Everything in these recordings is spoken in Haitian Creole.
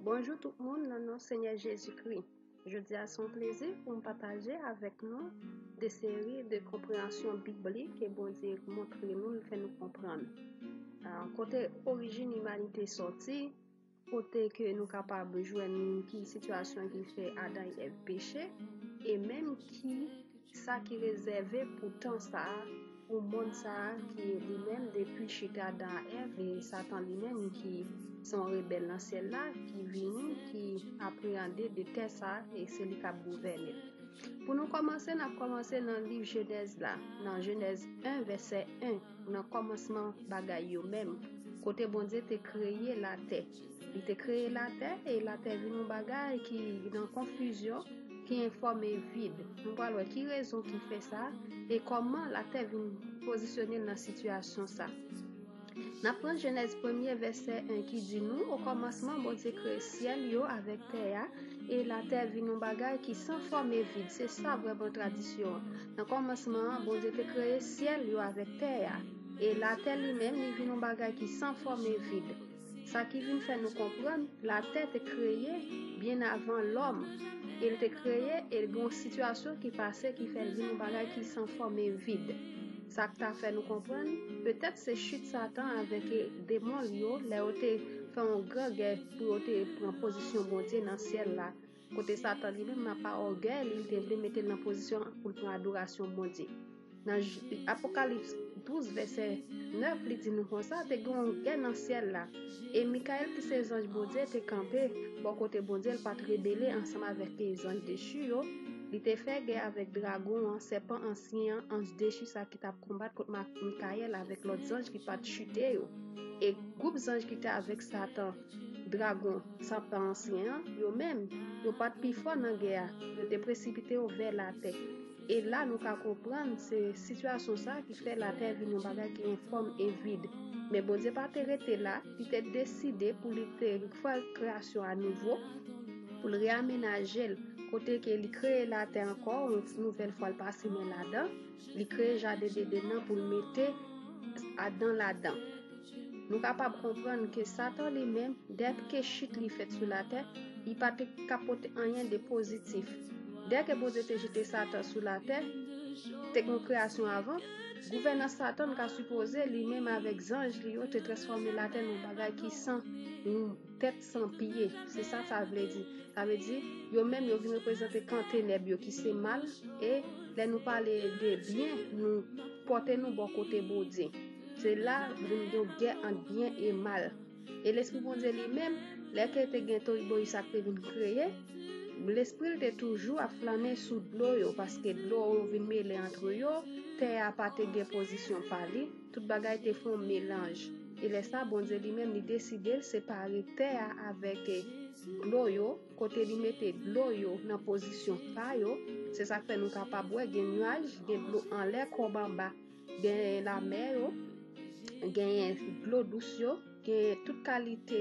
Bonjou tout moun nan non Senyè Jezi Kri. Jodi a son plezi pou m pataje avèk nou de seri de konpreyansyon biblik ke Bondye montre nou l fè nou konprann. Kote orijin imanite soti, kote ke nou kapab jwenn ki sitiyasyon ki fè Adan e Èv peche, e menm ki Kisa ki rezève pou tan sa a, pou mond sa a ki li menm depi chit Adan ak Èv e Satan li menm ki se yon rebèl nan syèl la ki vini, ki apreyande de tè sa a e se li k ap gouvène? Pou nou kòmanse, n ap kòmanse nan liv Jenèz la, nan Jenèz 1 vèsè 1, nan kòmansman bagay yo menm, kote Bondye te kreye latè. Li te kreye latè, e latè vin yon bagay ki nan konfizyon, ki enfòme vid. Nou pral wè ki rezon ki fè sa, e kòman latè vin pozisyone nan sitiyasyon sa. N ap pran Jenèz premye vèsè 1 ki di nou, o kòmansman Bondye kreye syèl yo avèk tè a, e latè vin yon bagay ki san fòm e vid. Se sa vrèman tradisyon an. Nan kòmansman an, Bondye te kreye syèl yo avèk tè a, e latè li menm li vin yon bagay ki san fòm e vid. Sa ki vin fè nou konprann latè te kreye byen avan lòm e l te kreye e gen yon sitiyasyon ki pase ki fè l vin yon bagay ki san fòm e vid. Sa k ta fè nou konprann petèt se chit Satan avèk demon l yo lè yo te fè yon gran gè pou yo te pran pozisyon Bondye nan syèl la Kote Satan li menm, nan pa ògèy li, li te vle mete l nan pozisyon pou l pran adorasyon Bondye. Nan Apokalips 12, vèsè 9, li di nou konsa, Te gen yon gè nan syèl la, e Mikayèl ki se zanj Bondye te kanpe bò kote Bondye, l pa t rebele ansanm avèk zanj dechi yo, li te fè gè avèk dragon an, sèpan ansyen an, anj dechi sa ki t ap konbat kont Mikayèl avèk lòt zanj ki pa t chite yo. E gwoup zanj ki te avèk Satan. Dragon santan ansyen an, yo menm, yo pa t pi fò nan gè a, yo te presipite yo vè latè. E la nou ka konprann se sitiyasyon sa a ki fè latè vin yon bagay ki enfòm e vid. Men Bondye pa te rete la, li te deside pou li te fè kreyasyon a nouvo, pou l reyamenaje l, kote ke li kreye latè ankò yon ti nouvèl fwa l pa simen ladan, li kreye jaden Dedenn'an pou l mete Adan ladan. Nou kapab konprann ke Satan li menm, dèp ke chit li fèt sou latè, li pa te ka pote anyen de pozitif. Dèp ke Bondye te jete Satan sou latè, te gen kreyasyon avan, gouvènans Satan ka sipoze li menm avèk zanj li yo te transfòme latè nan bagay ki san tèt san pye. Se sa sa vle di. Sa vle di, yo menm yo vin reprezante kan tenèb yo ki se mal, e lè nou pale de byen, nou pote nou bò kote Bondye. Se la vin gen gè ant byen e mal. E Lespri Bondye li menm, lè ke te gen toriboyi sa k te vin kreye, Lespri l te toujou ap flannen sou dlo yo, paske dlo yo vin mele antre yo, tè a pa te gen pozisyon pa li, tout bagay te fon melanj. E lè sa, Bondye li menm li deside l separe tè a avèk dlo yo, kote li mete dlo yo nan pozisyon pa yo, se sa k fè nou kapab wè gen nuaj, gen dlo anlè kòb anba. Genyen lamè yo, genyen dlo dous yo, genyen tout kalite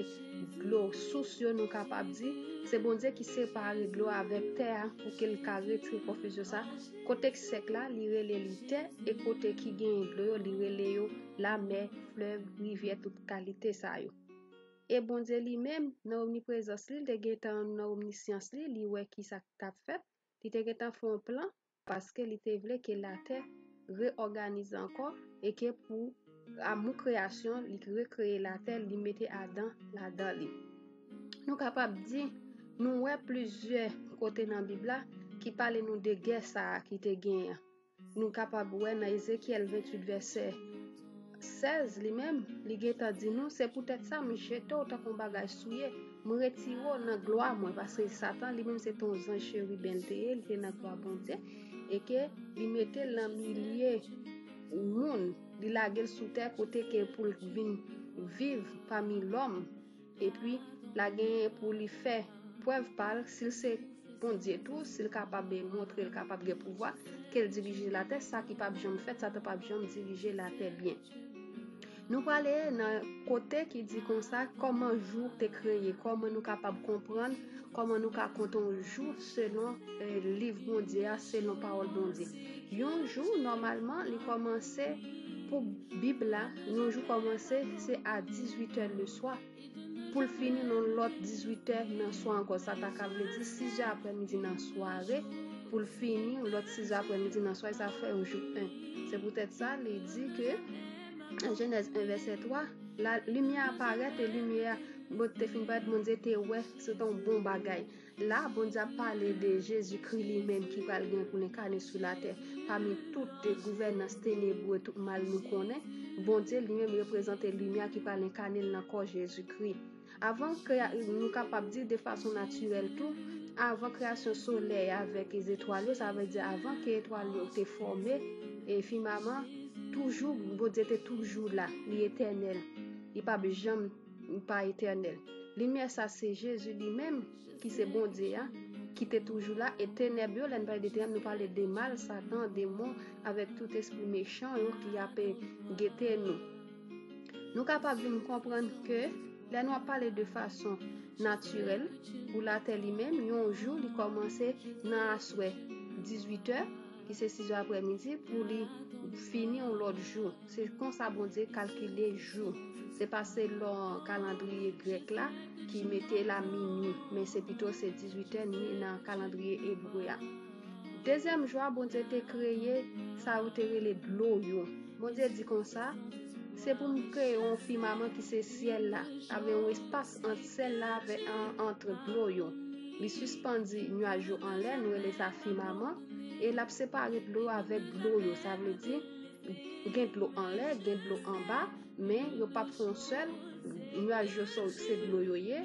dlo sous yo nou kapab di. Se Bondye ki separe dlo avèk tè a pou ke l ka retire konfizyon sa. Kote k sèk la, li rele li tè, e kote ki genyen dlo yo, li rele yo lamè, flèv, rivyè, tout kalite sa yo. E Bondye li menm, nan omniprezans li, l te gentan nan omnisyans li, li wè ki sa k t ap fèt, li te gentan fè yon plan paske li te vle ke latè reòganize ankò e ke pou amou kreyasyon li rekreye latè li mete Adan ladan li. Nou kapab di nou wè plizyè kote nan Bib la ki pale nou de gè sa a ki te genyen. Nou kapab wè nan Ezekyèl 28 vèsè. 16 li menm, li gentan di nou, se poutèt sa m jete w tankou yon bagay souye, m retire w nan glwa mwen, paske Satan li menm se te yon zanj cheriben l te ye, li te nan glwa Bondye, e ke li mete l nan milye moun, li lage l sou tè kote ke pou l vin viv pami lòm. Epi, la genyen pou li fè prèv pa l, si l se Bondye tou, si l kapab e montre l kapab gen pouvwa, ke l dirije latè, sa ki pap janm fèt, Satan pap janm dirije latè byen. Nou prale nan kote ki di konsa, kòman jou te kreye, kòman nou kapab konprann Kòman nou ka konte yon jou selon liv Bondye a, selon pawòl Bondye? Yon jou nòmalman li kòmanse pou Bib la, yon jou kòmanse se a 18 è le swa pou l fini nan lòt 18 è nan swa ankò sa ta ka vle di 6 è aprè midi nan sware pou l fini lòt 6 è aprè midi nan swa sa fè yon jou 1. Se poutèt sa li di ke Genèse 1 verset 3, la limye a parèt e limye a bot te fin parèt, Bondye te wè se ton bon bagay. La, Bondye a pale de Jezi kri li menm ki pral gen pou lenkane sou la tè. Pami tout te gouvèn nan stenebou e tout mal nou konnen, Bondye li menm reprezante limye a ki pral lenkane nan kò Jezi kri. Avan kreya nou kapab di de fason natirèl tou, avan kreyasyon solèy avèk zetwal yo, sa vle di avan ke etwal yo te fòme e fimaman, toujou Bondye te toujou la, li etènèl, li pa p janm pa etènèl. Limyè sa se Jezi li menm ki se Bondye a, ki te toujou la, e tenèb yo, lè n pale de tenèb nou pale de mal, satan, demon, avèk tout espri mechan yo ki ape gete nou. Nou kapab vin konprann ke lè nou ap pale de fason natirèl pou latè li menm yon jou li kòmanse nan aswè 18 è ki se 6 è aprè midi pou li fini yon lòt jou se konsa Bondye kalkile jou se pa se lò kalandriye grèk la ki mete la minwi men se pito se 18 è nan kalandriye ebre a. Dezyèm jou a, Bondye te kreye sa yo te rele dlo yo. Bondye di konsa, Se pou m kreye yon fimaman ki se syèl la, avè yon espas ant syèl la avè ant dlo yo. Li sispandi nuaj yo anlè, nou rele sa fimaman, e l ap separe dlo yo avèk dlo yo. Sa vle di, gen dlo anlè, gen dlo anba. Men yo pap fè yon sèl, nwaj yo se dlo yo ye,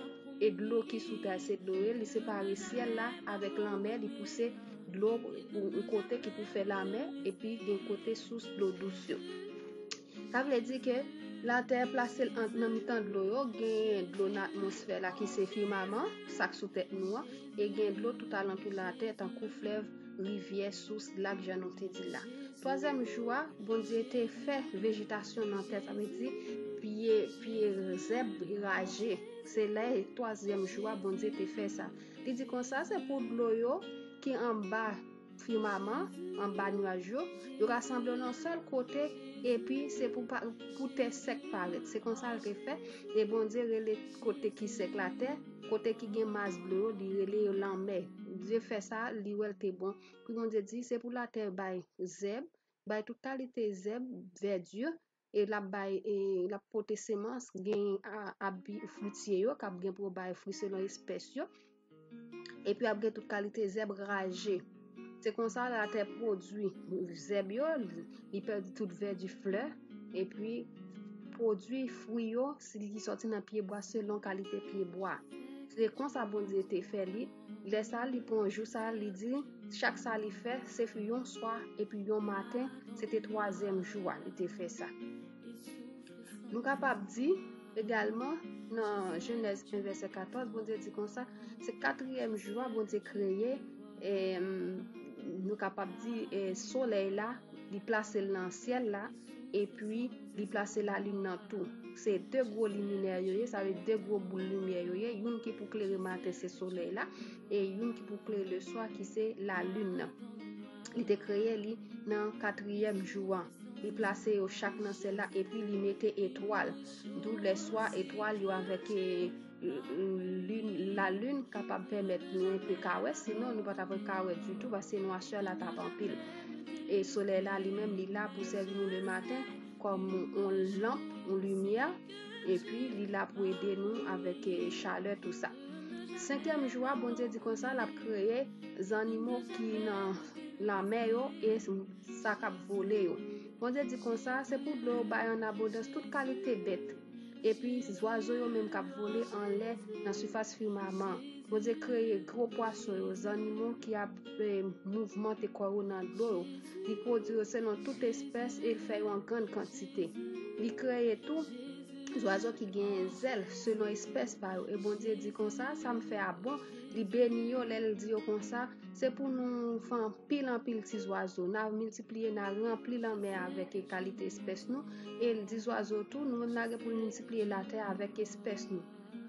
e dlo ki sou tè a se dlo yo ye, li separe syèl la avèk lanmè, li pouse dlo pou yon kote ki pou fè lamè, epi gen kote sous dlo dous yo. Sa vle di ke latè plase l nan mitan dlo yo, gen dlo nan atmosfè la ki se fimaman, sa k sou tèt nou an, e gen dlo tout alantou latè tankou flèv, rivyè, sous, lak jan nou te di la. Twazyèm jou a, Bondye te fè vejetasyon nan tè, sa vle di piye, piye zèb raje. Se lè twazyèm jou a Bondye te fè sa. Li di konsa se pou dlo yo ki anba fimaman, anba nwaj yo, yo rasanble nan sèl kote epi se pou pou tè sèk parèt. Se konsa l te fè e Bondye rele kote ki sèk la tè. Kote ki gen mas dlo yo, li rele yo lanmè. Bndye fè sa, li wè l te bon. Pi Bondye di, Se pou latè bay zèb, bay tout kalite zèb, vèdi, e l ap bay, e l ap pote semans, gen ap bi fritye yo, k ap gen pou yo bay fri selon espès yo, epi ap gen tout kalite zèb raje. Se konsa latè pwodwi zèb yo, li pèdi tout vèdi flè, epi pwodwi fwi yo si li sòti nan pyebwa selon kalite pyebwa. Se konsa Bondye te fè li, lè sa li pran jou sa li di, chak sa li fè, se fi yon swa epi yon maten, se te twazyèm jou a li te fè sa. Nou kapab di, egalman, nan Jenèz 1 vèsè 14, Bondye di konsa, se katriyèm jou a Bondye kreye, E nou kapab di e solèy la li plase l nan syèl la epi li plase la lin nan tou. Se de gwo liminè yo ye, sa ve de gwo boul limyè yo ye, youn ki pou klere maten se solèy la, e youn ki pou klere le swa ki se la lin nan. Li te kreye li nan katriyèm jou an. Li plase yo chak nan syèl la epi li mete etwal. Dou le swa etwal yo avèk e... La lune kapab pèmèt nou yon pe kawè, sinon nou pa ta pwè kawè du tout, ba se nou asè la ta pa anpil. E solè la li menm li la pou sèvi nou le maten, kòm yon lamp, yon lumiè, e pi li la pou ede nou avèk e chalè tout sa. Senkyèm jou a, bon diè di kon sa, la kreye zanimo ki nan la mè yo, e sa kap vole yo. Bon diè di kon sa, se pou dlo yo bay an abondans tout kalite bèt. Epi, zwazo yo menm k ap vole anlè nan sifas fimaman an. Bondye kreye gwo pwason yo, zannimo ki ap mouvmante kò yo nan dlo yo. Li pwodui yo selon tout espès e l fè yo an grann kantite. Li kreye tou, zwazo ki genyen zèl, selon espès pa yo. E Bondye di konsa, Sa m fè a bon. Li beni yo lè l di yo konsa. Se pou nou fè anpil anpil ti zwazo, na miltipliye, na ranpli lanmè avèk e kalite espès nou, e di zwazo tou, nou menm na gen pou nou miltipliye latè avèk espès nou.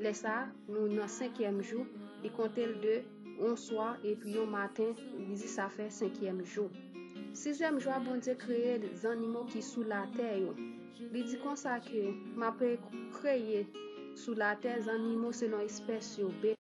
Lè sa, nou nan senkyèm jou, li konte l de yon swa, epi yon maten, li di sa fè senkyèm jou. Sizyèm jou a Bondye kreye zannimo ki sou latè yo. Li di konsa ke, m ape kreye sou latè zannimo selon espès yo,